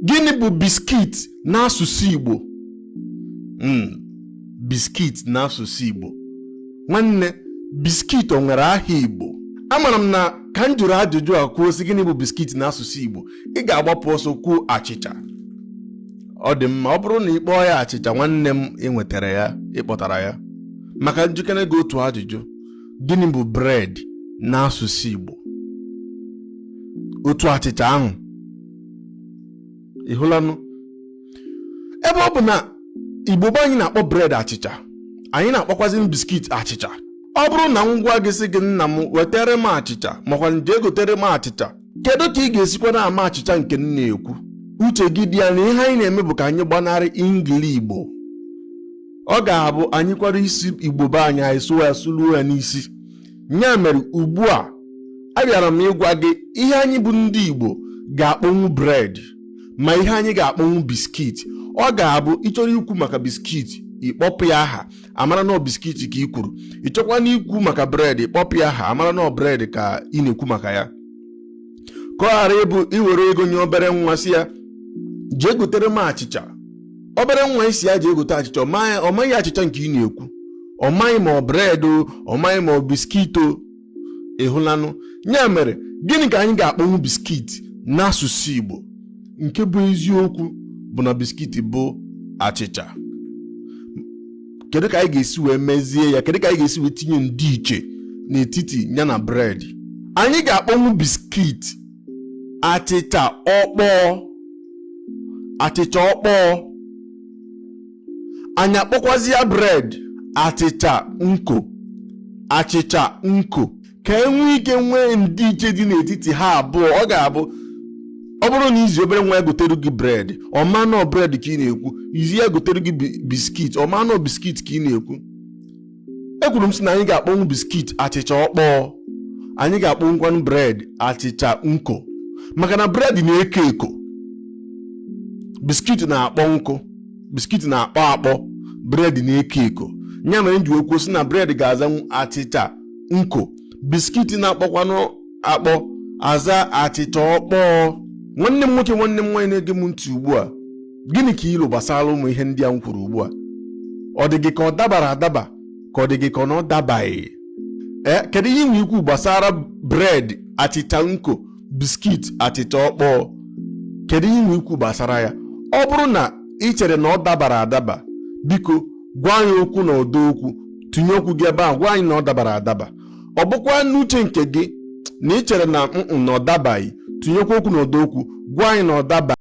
gịnị bụ biskit n'asụsụ Igbo hmm, biskit n'asụsụ Igbo nwanne biskit o nwere aha Igbo amara m na ka m jụrụ ajụjụ a kwuo sị gịnị bụ biskit n'asụsụ Igbo ị ga-agbapụ ọsọ kwuo achịcha ọ dị mma ọ bụrụ na ị kpọọ ya achịcha nwanne m i nwetara ya ị kpọtara ya ma ka m jụkene gị otu ajụjụ gịnị bụ bred n'asụsụ Igbo otu achịcha ahụ ị hụlanụ ebe ọ bụ na igbo be anyị na-akpọ bred achịcha anyị na-akpọkwazinụ biskit achịcha ọ bụrụ na m gwa gị sị gị nna m wetere m achịcha makwanụ jee gotere m achịcha kedu ka ị ga-esikwanụ ama achịcha nke m na-ekwu uche gị dị ya na ihe anyị na-eme bụ ka anyị gbanarị ingili igbo ọ ga-abụ anyị kwara ịsụ igbo be anyị anyị sụwa ya sụluo ya n'isi ya mere ugbu a abịara m ịgwa gị ihe anyị bụ ndị Igbo ga-akpọnwu bred ma ihe anyị ga-akpọnwu biskit ọ ga-abụ ị chọrọ ikwu maka biskit ị kpọpụ ya aha a mara na ọ biskit ka i kwuru ị chọkwanụ ikwu maka bred ị kpọpụ ya aha a mara na ọ bred ka ị na-ekwu maka ya ka ọ ghara ịbụ i were ego nye obere nwa sị ya jee gotere m achịcha obere nwa ị sị ya jee gote achịcha ọ maghị achịcha nke ị na-ekwu ọ maghị ma ọ bred o ọ maghị ma ọ biskit o ị hụlanụ ya mere gịnị ka anyị ga-akpọnwụ biskit n'asụsụ Igbo nke bụ eziokwu bụ na biskit bụ achịcha kedu ka anyị ga-esi wee mezie ya kedu ka anyị ga-esi wee tinye ndịiche n'etiti ya na bred anyị ga-akpọnwụ biskit achịcha ọkpọọ achịcha ọkpọọ anyị akpọkwazia bred achịcha nko achịcha nko ka e nwee ike nwee ndịiche dị n'etiti ha abụọ ọ ga-abụ ọ bụrụ na i zi obere nwa ya gotere gị bred ọ ma na ọ bred ka ị na-ekwu i zi ya gotere gị biskit ọ ma na ọ biskit ka ị na-ekwu ekwuru m sị na anyị ga-akpọnwụ biskit achịcha ọkpọọ anyị ga-akpọnwụkwanụ bred achịcha nko maka na bred na-eko eko biskit na-akpọ nkụ biskit na-akpọ akpọ bred na-eko eko ya mere m ji kwuo sị na bred ga-azanwu achịcha nko biskit na-akpọkwanụ akpọ aza achịcha ọkpọọ nwanne m nwoke nwanne m nwaanyị na-ege m ntị ugbu a gịnị ka i lo gbasara ụmụ ihe ndị a m kwuru ugbu a ọ dị gị ka ọ dabara adaba ka ọ dị gị ka ọ na ọ dabaghị ee kedu ihe i nwe ikwu gbasara bred achịcha nko biskit achịcha ọkpọọ kedu ihe i nwe ikwu gbasara ya ọ bụrụ na i chere na ọ dabara adaba biko gwa anyị okwu na ọdọ okwu tinye okwu gị ebe ahụ gwa anyị na ọ dabara adaba ọ bụkwa n'uche nke gị na i chere na mm na ọ dabaghị tinyekwa okwu na ọdọ okwu gwa anyị na ọ dabaghị